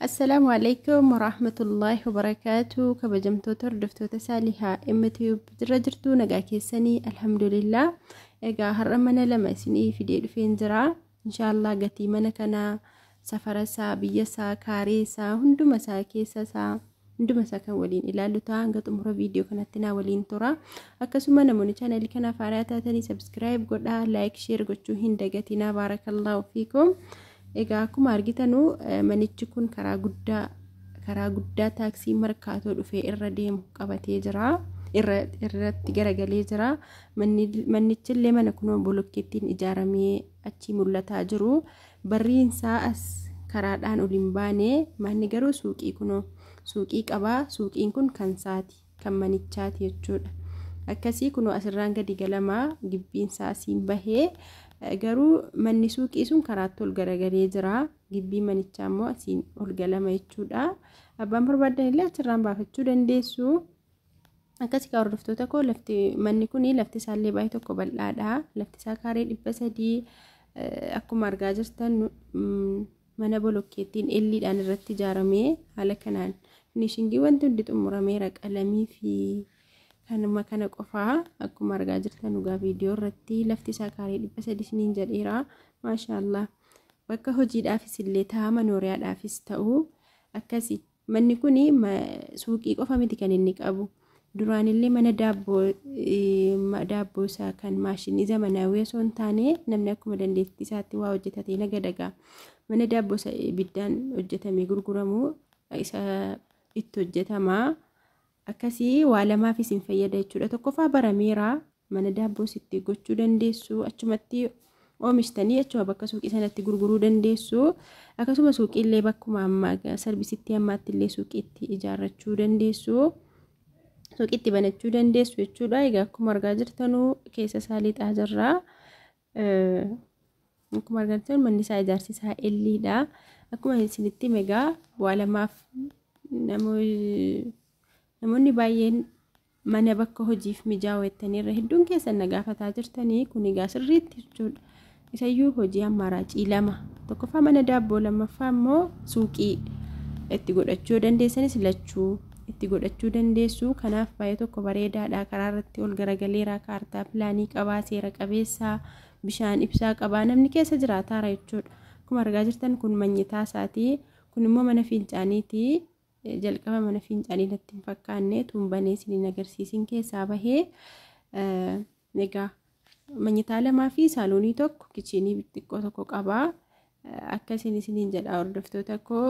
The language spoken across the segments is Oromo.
Assalaamu alaikum warahmatullaahi wabarakaatu kabajamtoota hordoftoota saalihaa MTube jirra jirtu nagaa keessanii alhamdulillah egaa har'a mana lama isinii fidee dhufeen jira inshaallah gatii mana kanaa safara isaa biyya isaa kaaree isaa hunduma isaa keessa isaa hunduma isaa kan waliin ilaallu ta'a hanga xumura viidiyoo kanatti naa waliin tura akkasuma namoonni chaanalii kanaaf haaraa taatanii sabskiraayib godhaa laayik sheer gochuu hin dagatinaa baarakallaahu fiikum egaa akkuma argitanu manichi kun karaa guddaa karaa guddaa taaksii markaatoo dhufee irra deemu qabatee jira irratti garagalee jira mannichillee mana kunoo bolokkeettiin ijaaramee achii mul'ataa jiru Barriin saa as karaadhaan ol hin baane, manni garuu suuqii kunoo. Suuqii qaba, suuqiin kun kan saati, kan manichaati jechuudha. Akkasii kunoo asirraan gadi galama, gibbiin saa asiin bahe, garuu manni suuqii sun karaatti ol garagalee jira, gibbii manichaa immoo asiin ol galama jechuudha. Abbaan barbaaddan illee achirraan baafachuu dandeessu. Akkasii kaa hordoftoota koo lafti manni kun lafti isaa illee baay'ee tokko bal'aadha. Lafti isaa kaaree dhibba sadii akkuma argaa jirtan mana bolokkeettiin elliidhaan irratti ijaaramee haala kanaan finishingii wanti hundi xumurameera qalamii fi kanuma kana qofaa akkuma argaa jirtan dhugaa viidiyoo irratti lafti isaa kaaree dhibba sadii isiniin jedheera maashaallah bakka hojiidhaafis illee ta'a manooriyaadhaafis ta'u akkasii. Manni kun suuqii qofa miti kan inni qabu. Duraanillee mana daabboo daabboo isaa kan maashinii zamanaawii osoo hin taane namni akkuma dandeettii isaatti waa hojjetatee nagadagaa. Mana daabboo isa ibiddaan hojjetamee gurguramu isa itti hojjetama. Akkasii waa lamaaf isin fayyada jechuudha. Tokkoffaa barameera mana daabboos itti gochuu dandeessu achumatti oomishtanii achuma bakka suuqii sanatti gurguruu dandeessu. Akkasuma suuqiillee bakkuma amma sarbisitti ammaatti illee suuqiitti ijaarrachuu dandeessu. Suuqiitti banachuu dandeessu jechuudha. Egaa akkuma argaa jirtanuu keessa isaa lixaa jirra. Akkuma argattan manni isaa ijaarsi isaa L-dha. Akkuma isinitti hime egaa bu'aa lamaaf namoonni baay'een mana bakka hojiif mijaa'u jettanii irra hedduun keessan na gaafataa jirtanii kun egaa sirriitti jechuudha. Isayyuu hojii ammaaraacii lama tokkoffaa mana daabboo lammaffaa immoo suuqii itti godhachuu dandeessanis lachuu. itti godhachuu dandeessu. Kanaaf baay'ee tokko bareedaadha. Karaa irratti ol garagaleera. Kaartaa pilaanii qabaa, seera qabeessa, bishaan ibsaa qabaa. Namni keessa jiraataara jechuudha. Akkuma argaa jirtan kun manyitaa isaati. Kun immoo mana fincaaniiti. Jalqaba mana fincaanii natti hin fakkaanne. Tuun banee isiniin agarsiisin keessaa bahee. Egaa manyitaa lamaa fi saaloonii tokko kichiinii xiqqoo tokko qaba. Akkasiin isiniin jedha hordoftoota koo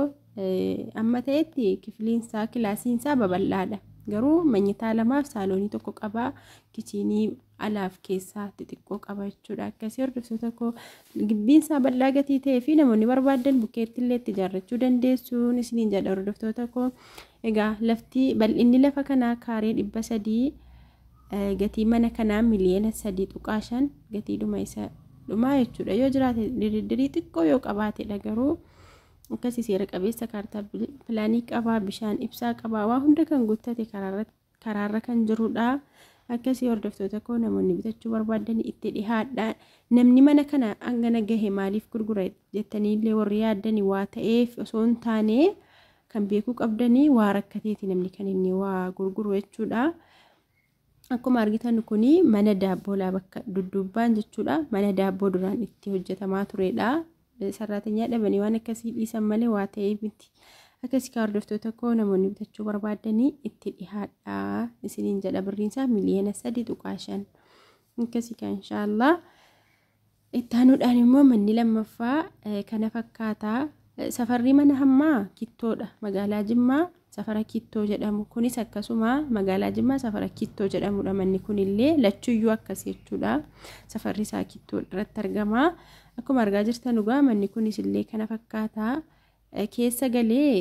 amma ta'etti kifliinsaa kilaasiinsaa babal'aadha. Garuu manyitaa lamaaf saaloonii tokko qaba. Kichiinii alaaf keessaa xixiqqoo qaba jechuudha. Akkasii hordoftoota koo gibbiinsaa bal'aa gatii ta'ee fi namoonni barbaadan bukkeetti illee itti ijaarrachuu dandeessuun isiniin jedha hordoftoota koo. Egaa lafti bal'inni lafa kanaa kaaree dhibba sadii Gatiin mana kanaa miliyoona 3.5 gatiidhuma isa dhumaa jechuudha. Yoo jiraate diriddirii xiqqoo yoo qabaatedha garuu akkasii seera qabeessa kaartaa pilaanii qabaa, bishaan ibsaa qabaa, waa hunda kan guuttate karaarra kan jirudha. Akkasii hordoftoota koo namoonni bitachuu barbaadan itti dhihaadha. Namni mana kana hangana gahe maaliif gurgura jettanii illee warri yaaddani waa ta'eef osoo hin taane Kan beekuu qabdani waa rakkateeti namni kan inni waa gurguru jechuudha. Akkuma argitan kun mana daabboo laa bakka dudduubbaan jechuudha. Mana daabboo duraan itti hojjetamaa turedha. Sarraatenyaa dhabanii waan akkasii dhiisan malee waa ta'ee miti. Akkasii kaa hordoftoota koo namoonni bitachuu barbaadanii itti dhihaadha. Isiniin jedha birriinsaa miliyoona sadii tuqaa shan. Akkasii kaa inshaallah. Itti aanuudhaan immoo manni lammaffaa kana fakkaata. Safarri mana hammaa Kittoodha. Magaalaa Jimmaa safara Kittoo jedhamu. Kunis akkasuma magaalaa Jimmaa safara Kittoo jedhamudha. Manni kunillee lachuyyuu akkas jechuudha. Safarri isaa Kittoo irratti argama. Akkuma argaa jirtan dhugaa manni kunis illee kana fakkaata. keessa galee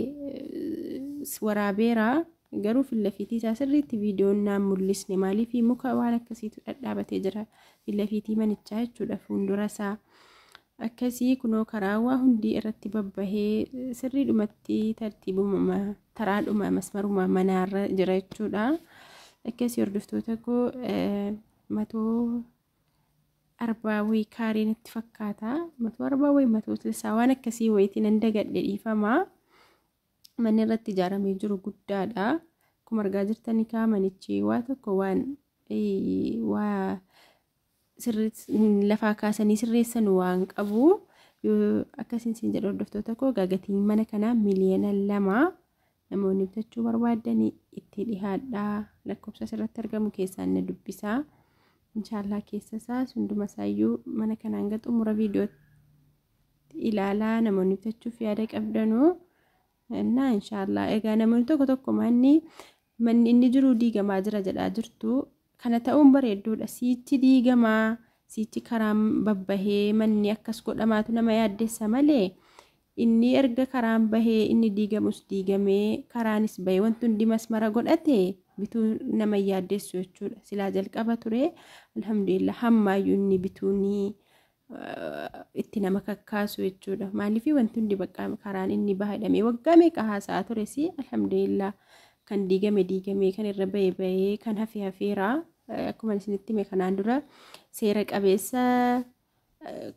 waraabeera garuu fillafiitii isaa sirriitti viidiyoon naan mul'isne maaliif muka waan akkasiitu dhadhaabatee jira fillafiitii manichaa jechuudha fuuldura isaa akkasii kunoo karaawaa hundii irratti babbahee sirrii dhumatti tartiibuma taraadhuma masmaruma manaarra jira jechuudha akkasii hordoftoota koo matoo arbaa way kaaree natti fakkaata matuu arbaa way matuu tilsaa waan akkasii wayitii nan dagadhe dhiifamaa manni irratti ijaaramee jiru guddaadha akkuma argaa jirtanii kaa manichi waa tokko waan waa lafaa kaasanii sirreessan waan qabu akkasiin siin jedhu hordoftoota koo gaagatiin mana kanaa miliyoona lama Namoonni bitachuu barbaaddan itti dhihaadhaa lakkoofsa asirratti argamu keessaan na dubbisaa. Inshaallah keessa isaa hunduma isaayyuu mana kana hanga xumura viidiyootti ilaalaa namoonni bitachuuf yaada qabdanuu na inshaallah egaa namoonni tokko tokko manni manni inni jiru diigamaa jira jedhaa jirtu kana ta'uun bareedduudha siichi diigamaa siichi karaan babbahee manni akkas godhamaatu nama yaaddessa malee Inni erga karaan bahee, inni diigamus diigamee, karaanis bahe, wanti hundi masmara godhate bituu nama hin yaaddeessu jechuudha. Silaa jalqaba ture, alhamdulillah hammaayyuu inni bituun itti nama kakkaasu jechuudha. Maaliif wanti hundi bakka karaan inni baha jedhamee waggaa meeqa haasa'a tures, alhamdulillah kan diigame diigamee, kan irra bahe bahee, kan hafe hafeera. Akkuma isinitti hime kanaan dura seera qabeessa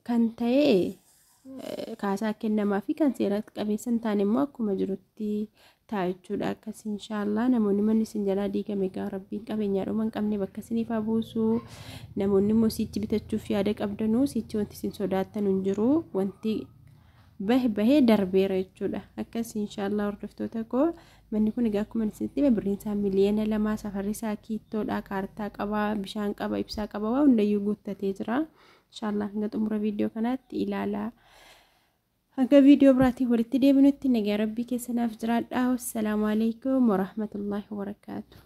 kan ta'e kaasaa kennamaa fi kan seera qabeessa hin taane immoo akkuma jirutti ta'a jechuudha. Akkas inshaallah namoonni manni isin jalaa diigame egaa rabbiin qabeenyaa dhuma hin qabne bakka isiniif haa buusu. Namoonni immoo siichi bitachuuf yaada qabdanuu siichi wanti isin sodaattan hin jiru wanti bahe bahee darbeera jechuudha. Akkas inshaallah hordoftoota koo Manni kun egaa akkuma isinitti hime birriin isaa miliyoona lama safarri isaa kiittoodha kaartaa qaba bishaan qaba ibsaa qaba waa hundayyuu guuttatee jira. Inshaallah hanga xumura viidiyoo kanaatti ilaalaa. Hanga viidiyoo biraatiin walitti deebinutti nagaa rabbii keessa naaf jiraadhaa. Wassalaamu alaikum warahmatullaahi wabarakaatu.